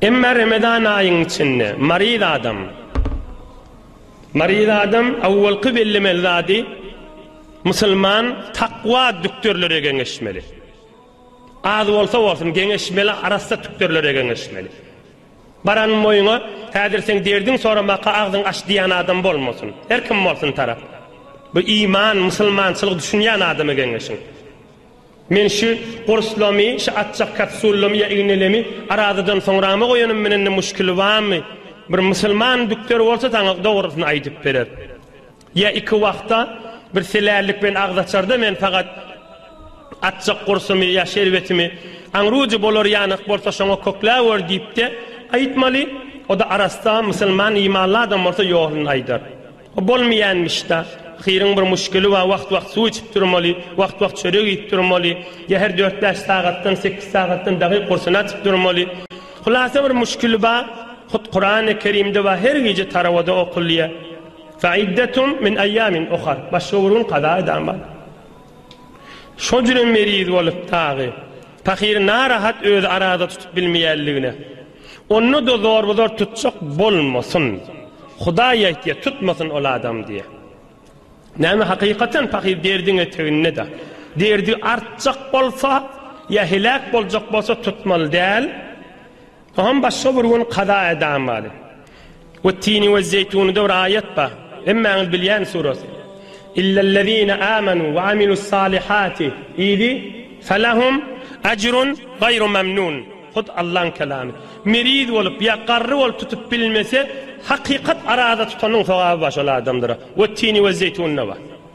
Emma Ramazan aýyň içinde maryz adam maryz adam awwalky bellemeli zady musulman takwa dükdürlere geňeşmeli. Az bolsa bolsun geňeşmeli, arassa dükdürlere geňeşmeli. Baran moýuňa häzir seň derdiň soramaka agzyň aç diýän adam bolmasyn. Her kim bolsun tarap. Bu iman, musulmançylyk düşünýän adama geňeşiň. Men şu gurslamy, şu atjak kapsullamy ýa ignelemi arazadan soňrama goýanym menen-de muşkili bamy? Bir musulman dükder bolsa saňa dogrusyny aýdyp berer. Ýa iki wagta bir selällik bilen agzaçarda men fagat atjak gursumy ýa şerbetimi aňrujy bolar ýanyk bolsa şoňa kökläwer diýip-de aýtmaly, o-da arassa, musulman, imanly adam bolsa ýoluny aýdar. O bolmaýanmyş-da. Ahyryň bir muşkili bar, wagt-wagt suw içip durmaly, wagt-wagt çörek iýip durmaly, ýa her dört-bäş sagatdan, sekiz sagatdan dagy gursuny açyp durmaly. Hulasa bir muşkili bar, hut Kurany Kerimde bar, her gije tarowada okulýar. Faiddetum min aýamin uhar. Başga bir gün kaza edan bar. Şo jüne meriz bolup dagy pahyry narahat özi arada tutup bilmeýänligine onda da zorba zor tutjak bolmasyn. Hudaý aýtýa tutmasyn ol adam diýe. Näme hakykatan pahyr derdiň eteginde da. Derdi artjak bolsa ýa heläk boljak bolsa tutmaly däl. Oňam başga bir gün kaza edam bady. We tini we zeýtunyda bir aýat bar. Hemmäňiz bilýän surasy. Illellezine amanu we amilus salihati idi felahum ajrun gaýru mamnun. Hut Allaň kelamy. Meriz bolup ýa garry bolup tutup bilmese hakykat araza tutanyň sogaby bar şol adamlara. We tini we zeýtunynda bar.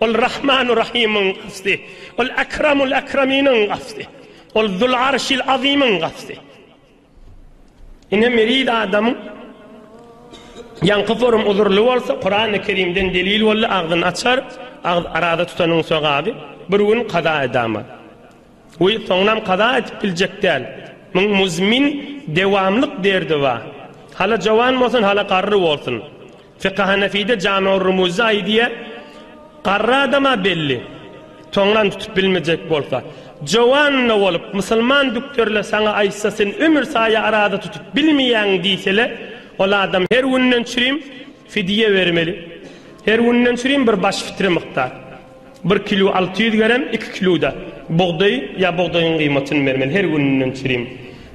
Ol Rahmanu Rahymyň Gawsy, Ol Akramul Akraminiň Gawsy, Ol Zul Arşil Azymyň Gawsy. Ine meriz adamyň ýaňky forum uzurly bolsa Kurany Kerimden delil boldy agzyny açar agz arada tutanyň sogaby bir gün kaza edama. Goý, soňunam kaza edip biljek däl. Muň muzmin, dewamlyk derdi ba. Hala jowan bolsun, hala garry bolsun. Fykhy Hanefide Jami'ur Rumuzda aýdýa, Garry adam-a belli, soňunam tutup bilmejek bolsa. Jowan-da bolup, musulman dükderler saňa aýtsa, sen ömür saýa araza tutup bilmeýäň diýsele, ol adam her günden çürim fidýe bermeli. Her günden çürim bir baş fitre mukdar. Bir kilo alty ýüz gerem, iki kilo-da bugdaý ýa bugdaýyň gyýmatyny bermeli, her gününden çürim.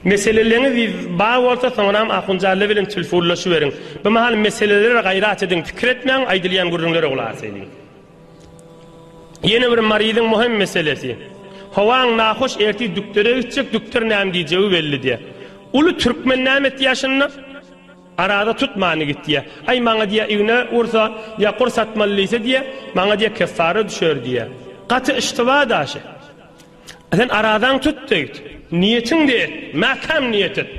Meseleleňiz bar bolsa, soňram Ahunjalla bilen tilfunlaşyberiň. Bu mahal meselelere gaýrat ediň, pikir etmäň, aýdylýan gürrüňlere gulak asaýyň. Ýene bir maryzyň möhüm meselesi. Howaň nahoş, ertir dükdere gitjek, dükder näme diýjegi belli däl. Uly türkmen näme etdi ýaşynda? Arada tutmany git diýýä. Aý, maňa diýýä, igne ursa, ýa kur satmaly diýse diýýä, maňa diýýä, keffara düşer diýýä. Gaty yştyba daşy. Sen aradaňy tut diýdi. Niýetiňde et, mäkäm niýet et.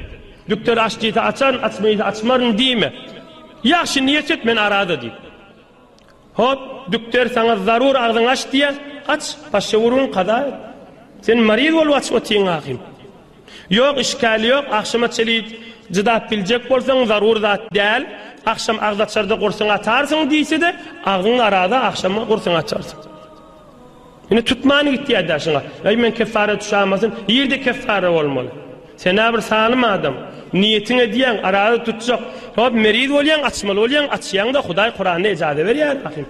Dükder aç diýse açaryn, açma diýse açmaryn diýme. Ýagşy niýet et, men arada diýdi. Hop, dükder saňa zarur agzyňy aç diýýä, aç, başga gürrüň kaza et. Sen maryz bolup aç otyň ahym. Ýok, işgäl ýok, agşama çeli cydap biljek bolsaň zarur zat däl, agşam agzaçarda gursyňy atarsyň diýse-de, agzyň araza agşama gursyňy açarsyň. Indi tutman gitýär daşyňa. Eý men keffara düşämasyn, ýerde keffara bolmaly. Sen-ä bir salym adam. Niýetiň edýäň, araza tutjak. Hop, meriz bolýaň, açmaly bolýaň, açýaň-da, Hudaý Kuranda ejaza berýär ahim.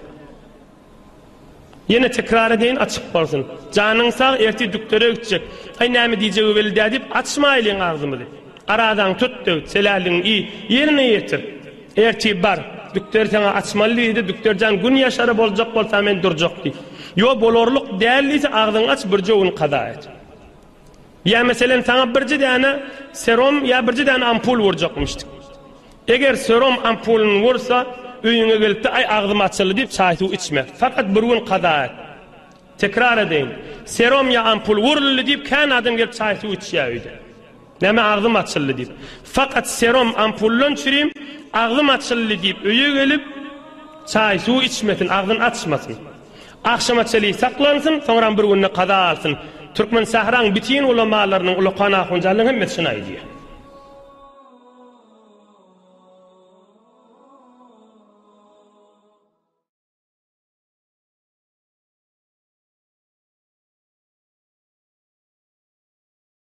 Ýene tekrar edeýin, açyk bolsun. Janyň sag, ertir düklere gitjek. Aý, näme diýjegi belli-dä diýip, açmaýlyň agzymyzy. Arazaňy tut-da git, seläligiňi iý, ýerine ýetir. Ertip bar, Dükderi saňa açmaly diýdi, Dükder jan gün ýaşary boljak bolsa men durjak diý. Ýo bolarlyk däl diýse agzyňy aç birje gün kaza et. Ýa meselen saňa birje däne serom ýa birje däne ampul urjakmyşdyk. Eger serom ampulyny ursa öýüňe gelipde aý agzym açyldy diýip çaý suw içme. Fakat bir gün kaza et. Tekrar edeýin, serom ýa ampul uruldy diýip kän adam gelip çaý suw içýä öýde. Näme agzym açyldy diýip. Fakat serum ampullan çürim agzym açyldy diýip öýe gelip çaý suw içmesin agzyn açmasyn. Agşama çeli saklansyn soňram bir günde kaza alsyn. Türkmen sähraň bitin ulamalarynyň ulakan ahunjanlarynyň hemmesi şuny aýdýar.